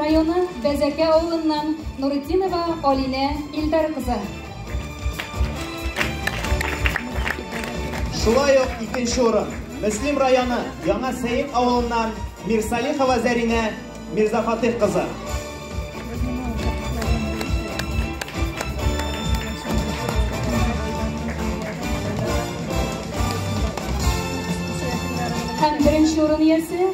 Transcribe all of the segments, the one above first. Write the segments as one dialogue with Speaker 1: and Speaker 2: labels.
Speaker 1: районы Бәзәкә авылыннан Нуретдинова Алинә Илдар кызы.
Speaker 2: Шулай ук икенче урын Мөслим районы Яңа Сәет авылыннан Мирсалихова Зәринә Мирзафатих кызы.
Speaker 1: Һәм беренче урын иясе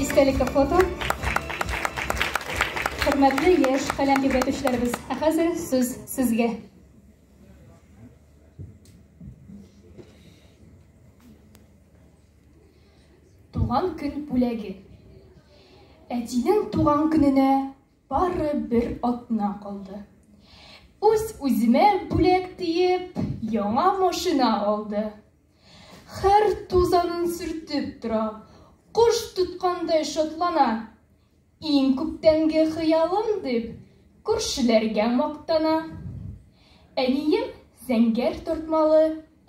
Speaker 1: Истәлекле фото. Хөрмәтле яшь каләм тибрәтүчеләребез, ә хәзер сүз сезгә. Туган көн бүләге. Әтинең туган көненә бары бер атна калды. Үз үземә бүләк диеп, яңа машина алды. Хәр тузанын сөртеп тора, кош тоткандай шатлана. Иң күптәнге хыялым дип, күршеләргә мактана. Әнием зәңгәр тартмалы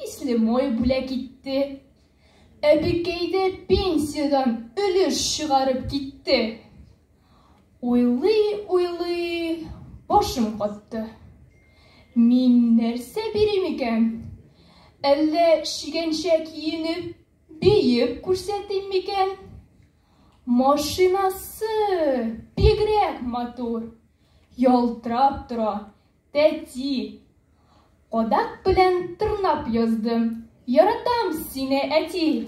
Speaker 1: исле мой бүләк итте. Әбекәй дә пенсиядән өлеш чыгарып китте. Уйлый-уйлый башым катты. Мин нәрсә бирим икән? Әллә шигәнчә киенеп, биеп күрсәтим микән? Машинасы бигрәк матур, ялтырап тора, тәти. Кадак белән тырнап яздым. Яратам сине, әти.